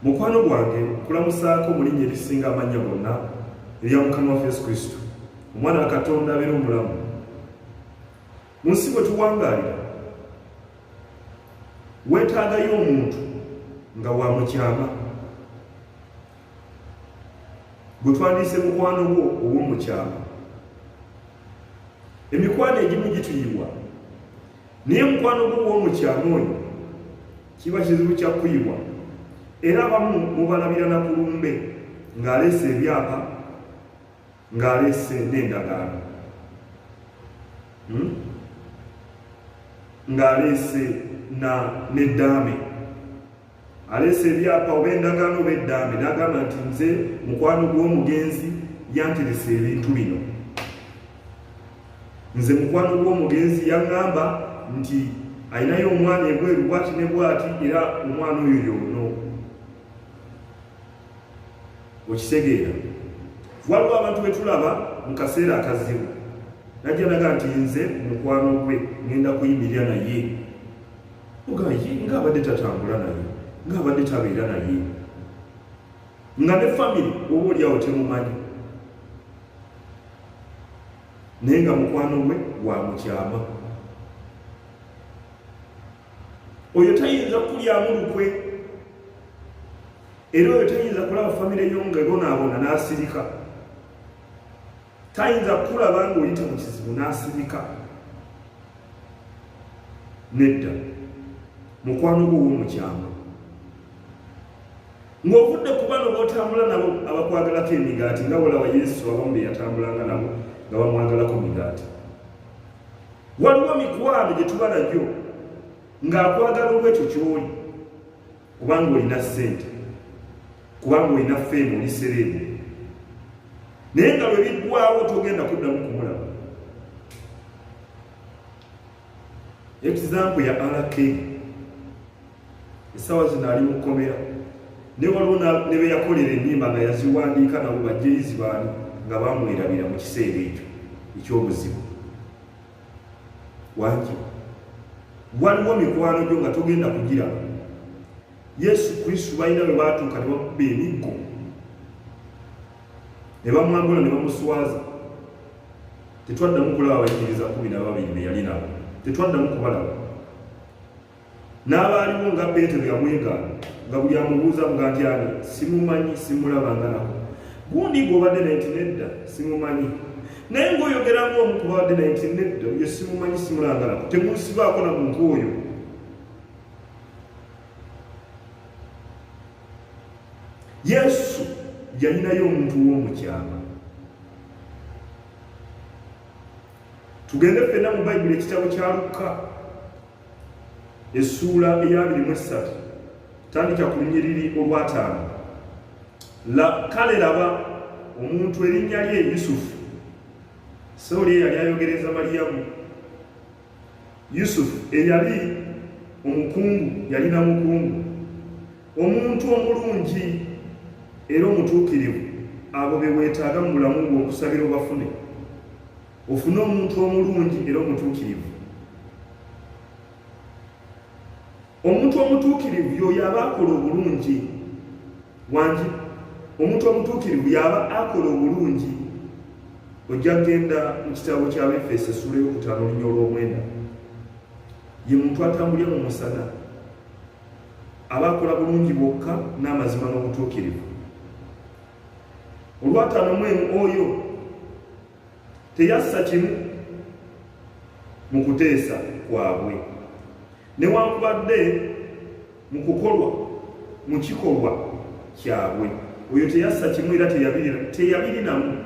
mukwano gwange kulamusaako mu linnya erisinga amannya gonna erya mukama waffe yesu kristo omwana wa katonda abeera omulamu mu nsi bwe tuwangaalira weetaagayo omuntu nga wa mukyama gwe twandiise mukwano gwo ow'omukyama emikwano egimu gituyiwa naye mukwano gwo w'omukyama oyo kiba kizibu kya kuyibwa era abamu mubalabira na kulumbe ng'aleese ebyapa ng'aleese n'endagaano hmm? ng'aleese na n'eddaame aleese ebyapa oba endagaano oba eddambi n'agamba nti nze mukwano gw'omugenzi yanteresa ebintu bino nze mukwano gw'omugenzi yaŋŋamba nti alinayo omwana ebweru bwati ne bwati era omwana oyo yoono okitegeera waliwo abantu betulaba mu kaseera akazibu najja naga nti nze mukwano gwe ŋenda kuyimirira naye mugamba ye nga abadde tatambula naye nga abadde tabeera naye nga ne famiry oba olyawo temumanyi naye nga mukwano gwe wa mukyama oyo tayinza kukulyamu lukwe era oyo tayinza kulaba famiry yo nga ebonaabona n'asirika tayinza kukulaba ng'oyita mu kizibu n'asirika nedda mukwano gwo w'omukyama ng'ovudde ku bano b'otambula nabo abakwagalako emigaati nga bolawa yesu abamu be yatambulanga nabo nga bamwagalako migaati waliwo mikwano gye tuba nagyo ng'akwagala olw'ekyo ky'oli kubanga olina sente kubanga olina feemu oli sereebu naye nga lwe biggwawo togenda kuddamu kumulaba ekizampu ya rk essaawa zino ali mukomera ne waliwo ne be yakolera ennyimba nga yaziwandiika nabo bajjeyizi baani nga bamwerabira mu kiseera ekyo ekyobuzibu waki waliwo mikwano gyo nga togenda kugira yesu kristu balina bwe baatuuka ne bakuba emiggo ne bamwambula ne bamuswaza tetwaddamu kulaba bayigiriza kumi na babiri be yali nabo tetwaddamu kubalaba n'abaaliwo nga peetero yamwegaana nga buli amubuuza nga nti ani simumanyi simulaba nga nako gundi gw'obadde naye nti nedda simumanyi naye ng'oyogera ng'omu ku babadde naye nti nedda oyo simumanyi simulaba nga nako temusibaako na muntu oyo yesu yalinayo omuntu w'omukyama tugende fenna mu bayibuli ekitabo kya lukka essuula eyabiri mu essatu tandika ku lunyiriri olwataano kale laba omuntu erinnya lye yusufu sawuli eyali ayogereza maliyamu yusufu eyali omukungu yalina mukungu omuntu omulungi era omutuukirivu abo be weetaaga mu bulamu bw'okusabira obafune ofune omuntu omulungi era omutuukirivu omuntu omutuukirivu yoyo aba akola obulungi wangi omuntu omutuukirivu yaba akola obulungi ojja kugenda mu kitabo kyabefeso esula eyokutaano olunya olw'omwenda ye muntu atambulira mu musana aba akola bulungi bwokka n'amazima n'obutuukirivu olwataano mwemu oyo teyassa kimu mu kuteesa kwabwe newankubadde mu kukolwa mu kikolwa kyabwe oyo teyassa kimu era teyabirinamu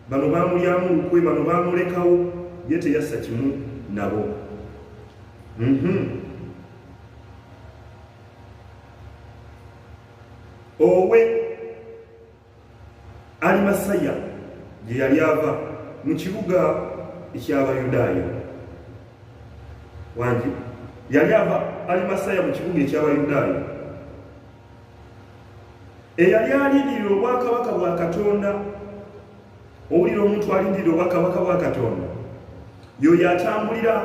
bano bamulyamu lukwe bano bamulekawo ye teyassa kimu nabo mhm. owe alimasaya gye yali ava mu kibuga eky'abayudaaya wangi yali ava alimasaya mu kibuga eky'abayudaaya eyali alindirira obwakabaka bwa katonda owulira omuntu alindirira obwakabaka bwa katonda yoyo atambulira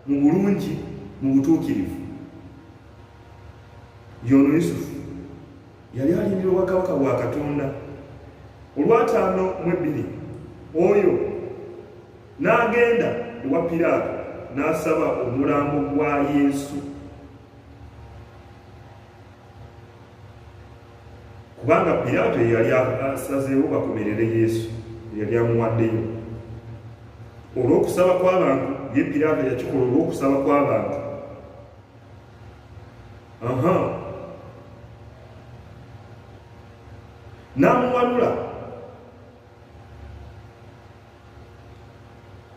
mu bulungi mu butuukirivu yono yusufu yali alindira obwakabaka bwa katonda olwataano mu ebbiri oyo n'agenda ewa piraato n'asaba omulambo gwa yesu kubanga piraato yeyali asazeewo bakomerere yesu eyali amuwaddeyo olw'okusaba kw'abantu ye piraato yakikola olw'okusaba kw'abantu aha n'amuwanula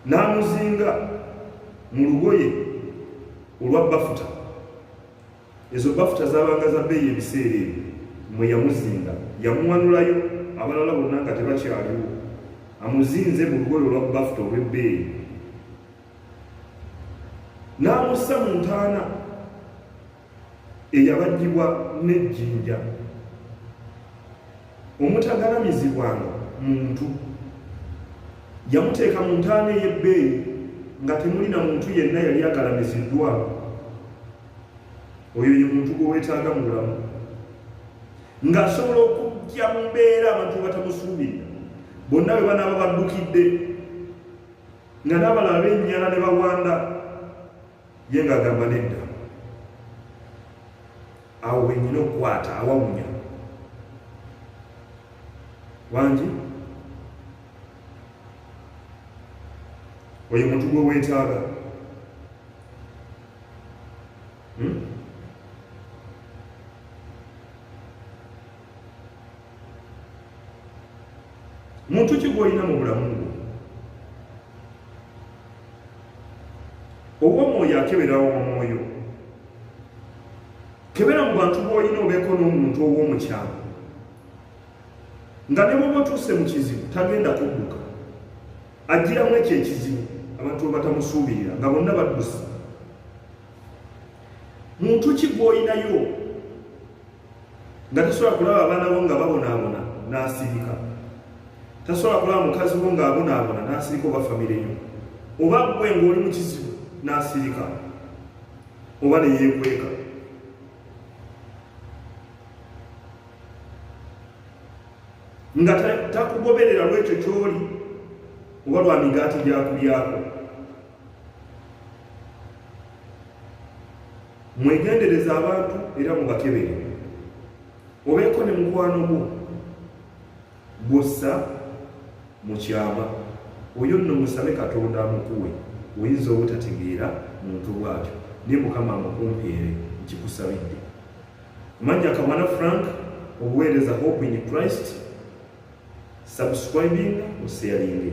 n'amuzinga mu lugoye olwa bafuta ezo bafuta zabanga za bbeeyi ebiseera ebyo mwe yamuzinga yamuwanulayo abalala bonna nga tebakyaliwo amuzinze mu lugoye olwa bafuta olw'ebbeeyi n'amussa mu ntaana eyabajjibwa n'ejjinja omutagalamizibwanga muntu yamuteeka mu ntaana ey'ebbeeyi nga temuli na muntu yenna yali agalamiziddwa oyo ye muntu gwe weetaaga mu bulamu ng'asobola okujja mu mbeera abantu batamusuubirira bonna bwe banaaba baddukidde nga n'abalala bennyana ne bawanda ye ng'agamba nedda awo wenyina okukwata awawunya wangi oyo muntu gwe weetaaga hmm? muntu ki gwolina mu bulamu bwo ow'omwoyo akeberawo omwoyo kebera mu bantu bwolina obeeko n'omuntu ow'omukyalo nga ne bwoba otuuse mu kizibu tagenda kudduka ajjiramu ekyo ekizibu abantu webatamusuubirira nga bonna badduse muntu ki gwolinayo nga tasobola kulaba abaana bo nga babonaabona n'asirika tasobola kulaba mukazi wo ng'abonaabona n'asirika oba famire yo oba gwe ng'oli mu kizibu n'asirika oba ne yeekweka nga takugoberera lwekyo kyoli oba lwa migaati gyakulyako Mwegendereza abantu era mubakebere, obeeko ne mukwano gwo bussa mu kyama. Oyo nno musabe Katonda amukuwe, oyinza obutategeera muntu bw'atyo, naye Mukama amukumpeere, nkikusabidde. Manja Kamana Frank, obuweereza Hope in Christ, subscribing, osharinge.